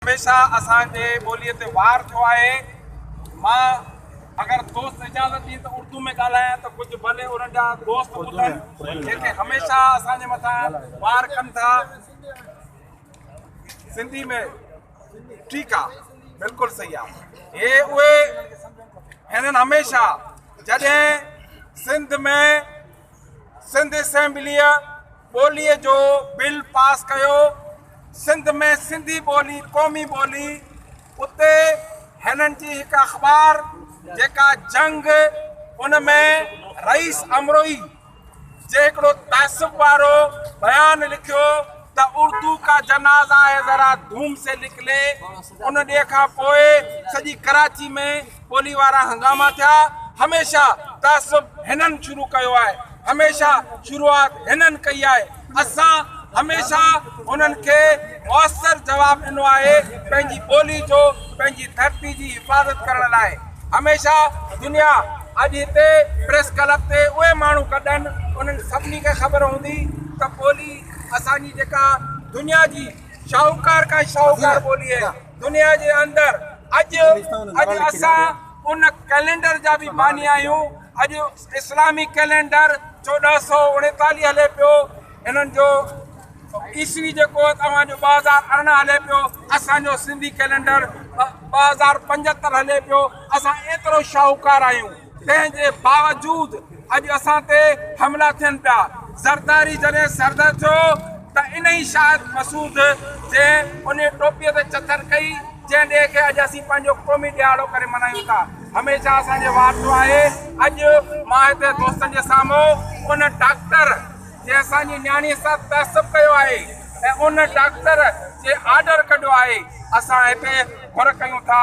هميشه اسان جي ٻوليء تي وار ٿيو آهي. مان اگر دوست اجازت ڏين ته اردو ۾ ڳالهايان ته ڪجهه ڀلي ان جا دوست ٻڌن جيڪي هميشه اسان جي مٿان وار ڪن ٿا. سنڌي ۾ ٺيڪ آ بلڪل صحيح آ هي اهي هنن هميشه جڏهن سنڌ ۾ سنڌ اسيمبليء ٻوليء جو بل پاس ڪيو، سنڌ ۾ سنڌي ٻولي قومي ٻولي، اتي هنن جي هڪ اخبار جيڪا جنگ ان ۾ رئيس امروهي جي هڪڙو تعصب وارو بيان لکيو ته اردو ڪا جنازا هي ذرا ڌوم سي لک لي ان ڏينهن کان پوء سڄي ڪراچي ۾ ٻولي وارا هنگاما ٿيا هميشه تعصب هنن شروع ڪيو آهي هميشه شروعات هنن ڪئي آهي اسان هميشه انهن کي موثر جواب ڏنو آهي پنهنجي ٻولي جو پنهنجي ڌرتي جي حفاظت ڪرڻ لاء هميشه دنيا اڄ هتي پريس ڪلب تي اهي ماڻهو گڏن انهن سڀني کي خبر هوندي ته ٻولي اسان جي جيڪا دنيا جي شاهوڪار کان شاهوڪار ٻولي آهي دنيا جي اندر اڄ اڄ اسان ان ڪئلينڊر جا به باني آهيون اڄ اسلامي ڪئلينڊر چوڏهن سو اڻيتاليهه هلي پيو انهن جو عيسوي جيڪو توهان جو ٻه هزار ارڙهن هلي پيو اسان جو سنڌي ڪئلينڊر ٻه هزار پنجهتر هلي پيو اسان ايترو شاهوڪار آهيون تنهن جي باوجود اڄ اسان تي حملا ٿين پيا. زرداري جڏهن سردر ٿيو ته انهي شاهد مسعود جنهن انهي ٽوپيء تي چٿر ڪئي جنهن ڏينهن کي اڄ اسين پنهنجو قومي ڏهاڙو ڪري ملهايون ٿا هميشه اسان جي وارثو آهي. اڄ مان هتي دوستن جي سامهون ان ڊاڪٽر جنهن اسان جي نياڻي سان تعصب ڪيو آهي ۽ ان ڊاڪٽر جي آرڊر ڪڍيو آهي اسان هتي گهر ڪيون ٿا.